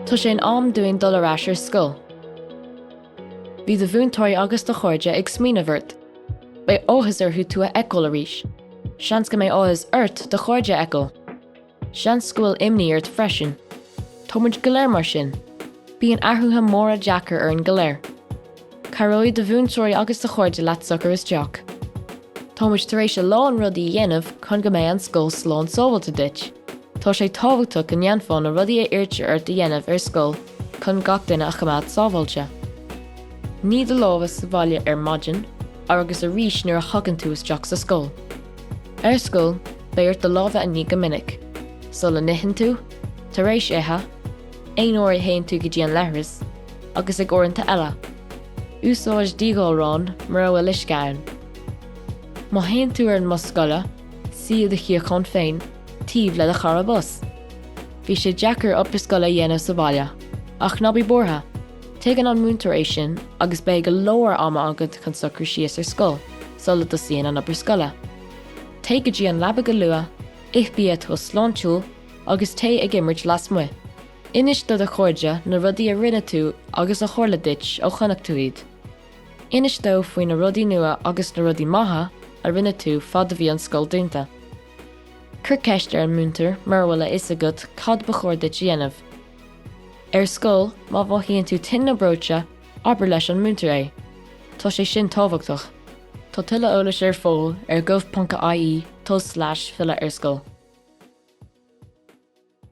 Tá sé in am dúinn dul ar ais ar scoil. Bhí do mhúinteoirí agus do chairde ag smaoineamh ort. Beidh áthas orthu tú a fheiceáil arís. Seans go mbeidh áthas ort do chairde a fheiceáil. Seans go bhfuil imní ort freisin. Tá muid go léir mar sin. Bíonn athruithe móra deacair orainn go léir. Cabhróidh do mhúinteoirí agus do chairde leat socair isteach. Táimid tar éis a lán rudaí a dhéanamh chun go mbeidh an scoil slán sábháilte duit. Tá sé tábhachtach go ndéanfá na rudaí a iarrtar ort a dhéanamh ar scoil chun gach duine a choimeád sábháilte. Nigh do lámha sa bhaile ar maidin agus arís nuair a thagann tú isteach sa scoil. Ar scoil, beidh ort do lámha a ní go minic, sula n-itheann tú, tar éis ithe, Aon uair a théann tú go dtí an leithreas, agus ag uaireanta eile, úsáid díghalrán mura bhfuil uisce ann. Má théann tú ar an mbus scoile, suigh i do shuíochán féin taobh le do chara bus. Bhí sé deacair obair scoile a dhéanamh sa bhaile, ach ná bí buartha, tuigeann an múinteoir é sin agus beidh go leor ama agat chun socrú síos ar scoil sula dtosaíonn an obair scoile. Téigh go dtí an leaba go luath, ith bia atá sláintiúil, Agus téigh ag imirt lasmuigh, inis do do chairde na rudaí a rinne tú agus a tharla duit ó chonaic tú iad. Inis dóibh faoi na rudaí nua agus na rudaí maithe a rinne tú fad a bhí an scoil dúnta. Cuir ceist ar an múinteoir mura bhfuil a fhios agat cad ba chóir duit a dhéanamh. Ar scoil, má mhothaíonn tú tinn nó breoite, Abair leis an múinteoir é. Tá sé sin tábhachtach. Tá tuilleadh eolais ar fáil ar gov.ie, tulslais, filleadh ar scoil.